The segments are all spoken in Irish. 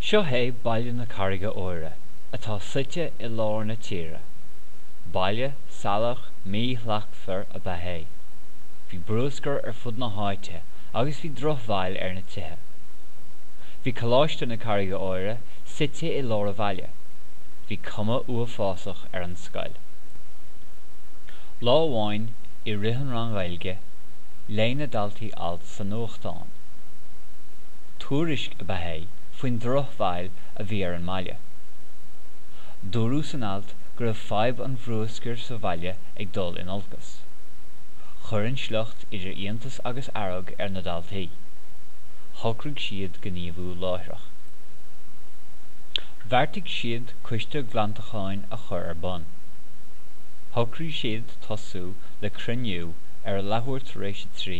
Seo é Baile na Carraige Óire atá suite i lár na tíre. Baile salach míshlachtmhar ab ea é. Bhí bruscar ar fud na háite agus bhí drochbhail ar na tithe. Bhí Coláiste na Carraige Óire suite i lár an bhaile. Bhí cuma uafásach ar an scoil. Lá amháin i rith an ranga Ghaeilge léigh na daltaí alt sa nuachtán. Tuairisc ab ea é faoin drochbhail a bhí ar an mbaile. Dúradh san alt go raibh fadhb an bhruscair sa bhaile ag dul in olcas. Chuir an sliocht idir iontas agus fhearg ar na daltaí. Shocraigh siad gníomhú láithreach. Bheartaigh siad coiste glantacháin a chur ar bun. Shocraigh siad tosú le cruinniú ar a leathuair tar éis a trí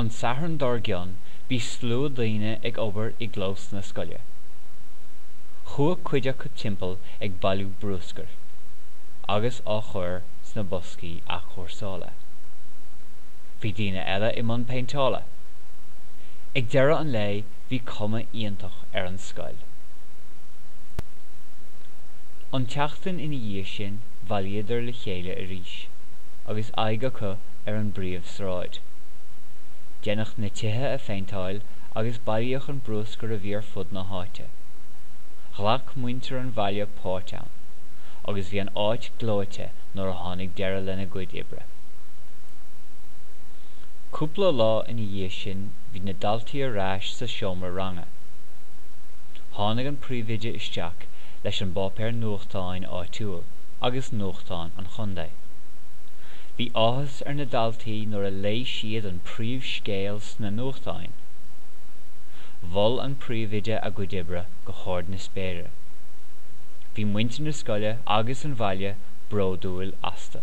An Satharn dár gcionn bhí slua daoine ag obair i gclós na scoile. Chuaigh cuid acu timpeall ag bailiú bruscair agus á chur sna boscaí athchúrsála. Bhí daoine eile i mbun péinteála. Ag deireadh an lae bhí cuma iontach ar an scoil. An tseachtain ina dhiaidh sin bhailíodar le chéile arís agus aghaidh acu ar an bpríomh sráid. Deineadh na tithe a phéinteáil agus bailíodh an bruscar a bhí ar fud na háite. Ghlac muintir an bhaile páirt ann agus bhí an áit gleoite nuair a tháinig deireadh lena gcuid oibre. Cúpla lá ina dhiaidh sin bhí na daltaí ar ais sa seomra ranga. Tháinig an príomhoide isteach leis an bpáipéar nuachtáin áitiúil agus nuachtán an chontae. Bhí áthas ar na daltaí nuair a léigh siad an príomhscéal sna nuachtáin. Mhol an príomhoide a gcuid oibre go hard na spéire. Bhí muintir na scoile agus an bhaile bródúil astu.